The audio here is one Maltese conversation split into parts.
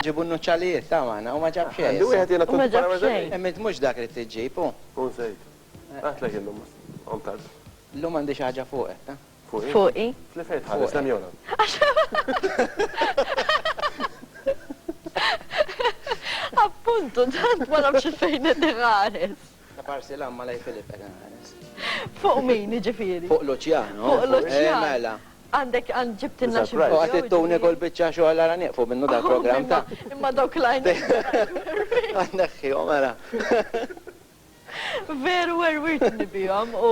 Ġibu n-nuċċalijiet ta' maħna u ma ġab xejn. Għandu wieħed jena tkun ġab xejn. Emmint mhux dak li tiġġib, u. U żejt. Għatlek illum, għom tard. Illum għandi xi ħaġa fuqek, ta'. Fuqi. Tlifejt ħares lem jona. Appuntu, tant ma nafx fejn qed iħares. Ta' parsi l-amma lej Filip qed inħares. Fuq min ġifieri? Fuq Luċjano. Fuq Luċjano. Eh, mela. Għandek għand ġibtilna xi ħaġa. Għad ittuni kol biċċa xogħol ara nieqfu minnu dal-programm ta'. Imma dawk lajn. Għandek mela. Veru werwirtni bihom u.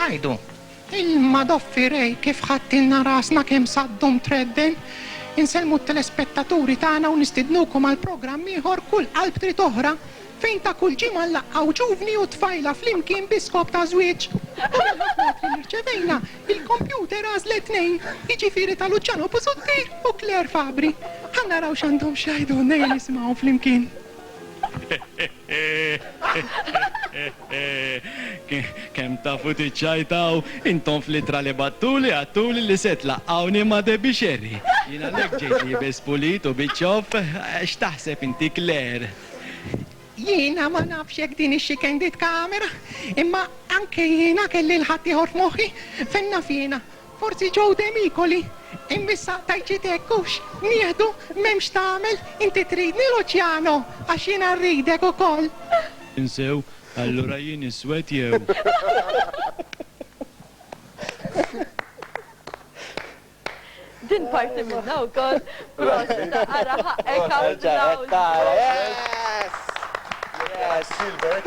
Għidu, Ilma doffi Ray kif ħadtilna rasna kemm saddum tredden. Insellmu t-telespettaturi tagħna u nistidnukom għal programm ieħor Kull Qalb Trid Oħra fejn ta' kull ġimgħa nlaqqgħu ġuvni u tfajla flimkien bi skop ta' żwieġ. U mill-ħafna ittri li rċevejna, il-kompjuter għażlet tnejn, jiġifieri ta' Luciano Busuttil u Claire Fabri. Ħa naraw x'għandhom x'jgħidulna ejja nisimgħuhom flimkien. Kemm tafu tiċċajtaw intom fl-ittra li battuli għadtuli li se tlaqqgħuni ma' Debbie Scerri. Jien għalhekk ġejt liebes pulit u biċ-ċopp. X'taħseb inti Claire? Jiena ma nafx jekk din hixxi candid camera, imma anke jiena kelli 'l ħaddieħor f'moħħi, fejn naf jiena, Forsi Joe Demicoli, immissa tajċit hekk hux, nieħdu m'hemmx tagħmel inti tridni Luciano għax jiena rridek ukoll. Insew, allura jien iswed jew. Din parti minnha wkoll. Prosit, ara ħaqqek applawż. Yes! Yes! Silbert.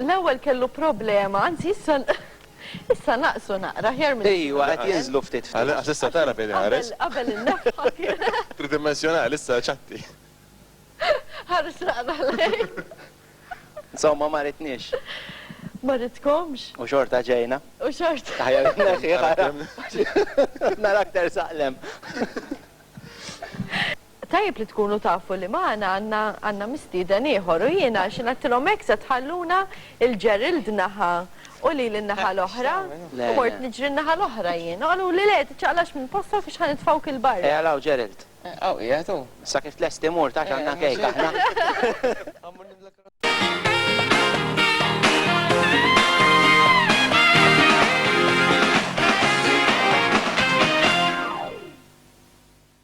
L-ewwel kellu problema, anzi issa issa naqsu naqra, aħjar milli kienu qabel. Ejwa, qed jinżlu ftit ftit. Għall-inqas issa tara fejn iħares. Qabel, qabel in-nefħa kien. Tridimmensjonali, issa ċatti. Ħares naqra lejn. Insomma, ma ridniex. Ma ridtkomx. U xorta ġejna. U xorta. Aħjar inneħħiha. Narak tersaq 'l hemm. Tajjeb li tkunu tafu li magħna għandna għandna mistieden ieħor u jiena għax ngħidtilhom hekk se tħalluna il Gerald naħa u lili n-naħa l-oħra u mort niġri n-naħa l-oħra jien u qaluli le tiċċaqlax minn postok għax ħa nitfgħuk il barra. Ejja law Gerald. Hawn qiegħed hu. Sa kif tlesti mur taf għandna kejk aħna.